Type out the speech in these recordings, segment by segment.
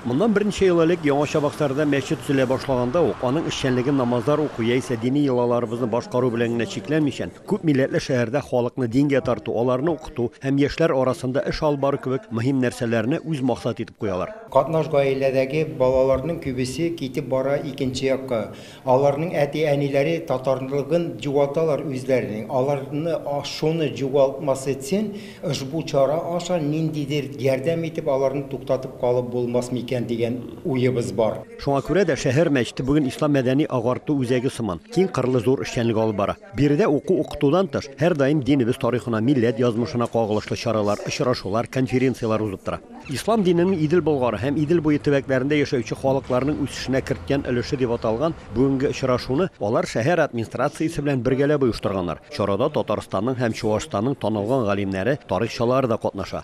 Моннан берничә ел элек Яңа Чабаксарда мәчет төзелә башлаганда ук, аның эшчәнлеге намазлар уку яисә дини йолаларыбызны башкару белән генә чикләнмичән, күп милләтле шәһәрдә халыкны дингә тарту, аларны укыту һәм яшьләр арасында эш алып бару кебек мөһим нәрсәләрне үз максат итеп куялар. Катнаш гаиләдәге балаларның күбесе китеп бара икенче якка. Аларның әти-әниләре татарлыгын җугаталар үзләренең. Аларны шуны җугалтмас өчен ошбу чара аша ниндидер ярдәм итеп аларны туктатып калып булмас микән дигән уебыз бар. Шуңа күрә дә шәһәр мәчете бүген ислам мәдәни-агарту үзәге сыман, киң кырлы зур эшчәнлек алып бара. Биредә уку-укытудан тыш, һәрдаим динебез тарихына, милләт язмышына кагылышлы чаралар, очрашулар, конференцияләр узып тора. Ислам диненең Идел Болгары һәм Идел буе төбәкләрендә яшәүче халыкларның үсешенә керткән өлеше дип аталган бүгенге очрашуны алар шәһәр админстрациясе белән бергәләп оештырганнар. Чарада Татарстанның һәм Чуашстанның танылган галимнәре, тарихчылары да катнаша.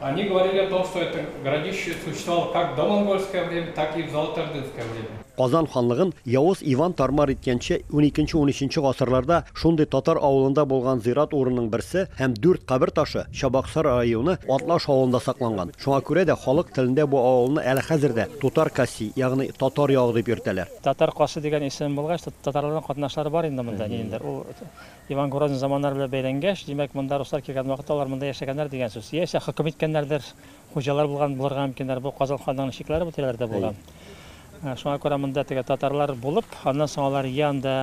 Они говорили о том, что это городище существовало как в домонгольское время, так и в золотоордынское время. Казан ханлыгын Явыз Иван тар-мар иткәнче уникенче-унөченче гасырларда шундый татар авылында булган зират урынның берсе һәм дүрт кабер ташы Чабаксар районы Атлаш авылында сакланган. Шуңа күрә дә халык телендә бу авылны әле хәзер дә Тутар Каси, ягъни Татар ягы дип йөртәләр. Татар Каси дигән исем булгач, татарларның катнашлары бар инде монда ниндидер, ул Иван Грозный заманнары белән бәйләнгәч, димәк, монда руслар килгән вакытта алар монда яшәгәннәр дигән сүз. Яисә хөкем иткәннәрдер, хуҗалар булган булырга мөмкиннәр. Бу Казан ханлыгының чикләре бу тирәләрдә булган. Шуңа күрә монда теге татарлар булып, аннан соң алар йә анда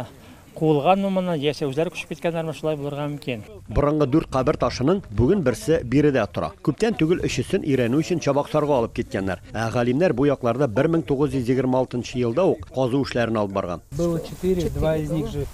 куылганмы моннан, яисә үзләре күчеп киткәннәрме, шулай булырга мөмкин. Борынгы дүрт кабер ташының бүген берсе биредә тора. Күптән түгел өчесен өйрәнү өчен Чабаксарга алып киткәннәр. Ә галимнәр бу якларда 1926 елда ук казу эшләрен алып барган.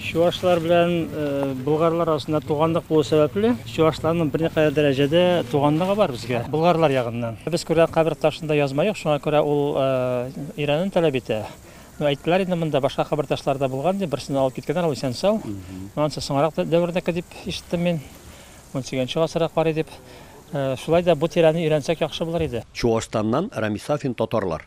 Чувашлар белән болгарлар арасында туганлык булу сәбәпле, чувашларның берникадәр дәрәҗәдә туганлыгы бар безгә, болгарлар ягыннан. Без күрә кабер ташында язма юк, шуңа күрә ул өйрәнүне таләп итә. Ну, әйттеләр инде монда башка кабер ташлары да булган, дип, берсен алып киткәннәр, ул исән-сау. Анысы соңрак дәвердәке дип ишеттем мин, унсигезенче гасырга карый дип. Шулай да бу тирәне өйрәнсәк яхшы булыр иде. Чуашстаннан Рамис Сафин Татарлар.